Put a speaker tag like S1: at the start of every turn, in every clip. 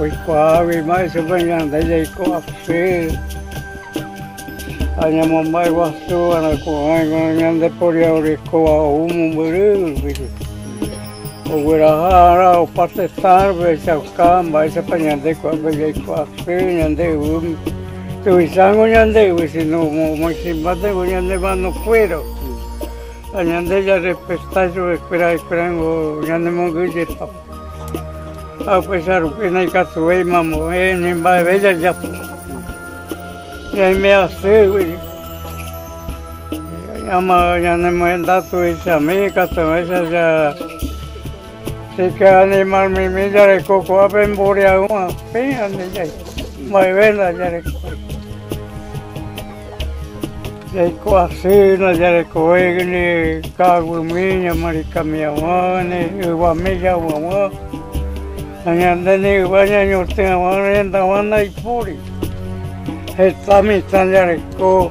S1: Oikuaáguima ichupe ñande jaiko asy ha ñamomba'e guasu va'erã ko'ãiva ñande poria orekóva ou mombyry rupi. Ogueraha ára opa tetãrupi ohechauka mba'éichapa ñande ko'ápe jaiko asy ñande yvýme. Tuvicháko ñande yvy síno omoĩsimbátengo ñande mano kuéra ha ñande jarrespeta chupekuéra ha'ekuérango ñanemongyjepa. Ha upéicha rupi naikatuvéima ambue ni mba'eve jajapo. Ñaime asýgui, ama ñanemohenda tuichami ikatuvéicha ika'animarmimi jareko ko'ápe mboriahu'ã péva ndive, mba'eve ndajarekói. Jaiko asy najarekovékene ka'aguymýi ñamarikami'ãvag̃uágane, yvame javy'aguã ha ñande ni yva ñañotỹ'aguã rendag̃ua ndaipóri. Heta mitã jareko,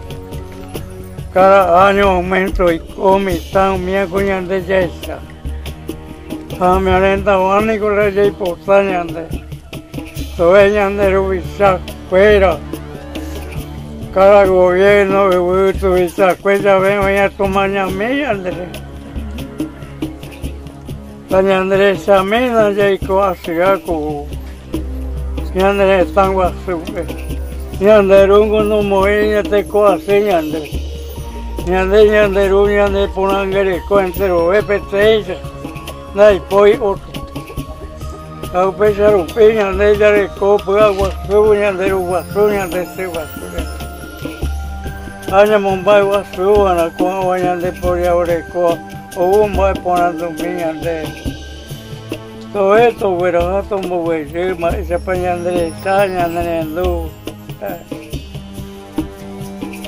S1: káda áño auménto oiko mitã umíva ko ñande jahecha. Ha ame'arendag̃ua niko la jaipota ñande tove ñande ruvicha kuéra, káda goviérno yvy tuvichakue jave oĩ atomañami ñande re. Ta ñande rechamiéna jaiko asyha ku. Ñande retã guasúpe, ñande rúngo nomoĩ ñatekoasy ñande. Ñande ñande ru ñaneporãnguereko enterove peteĩcha, ndaipói ótro. Ha upéicha rupi ñande jareko py'aguasu ñande ru guasu, ñande sy guasu reve. Ha ñamomba'e guasu va'erã ko'ãva ñande poriahurekóva ou mba'eporandumi ñandéve. Tove togueraha tomboguejy mba'éichapa ñande resa, ñande rendu.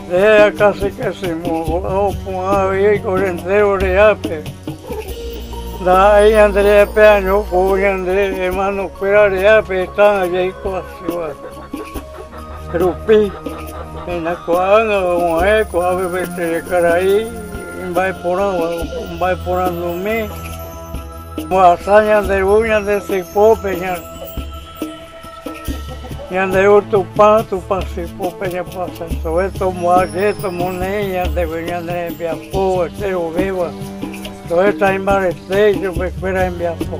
S1: Nde akãse kãse moõguaha opu'ã avei oiko entéro reápe. Ndaha'éi ñande reápe año ou ñande ermanokuéra reápe tá'ã jaiko asýva rupi. Péina ko'ág̃a agua'e ko'ápe pe terekarai imba'eporãva, mba'eporandumi. Ohasa ñande ru ñande sypópe, ñande ru Tupã, Tupã sypópe ñapohasasove tomoaje, tomoneĩ ñandegui ñande rembiapo enterovéva, toheta imbarete ichupe kuéra hembiapo.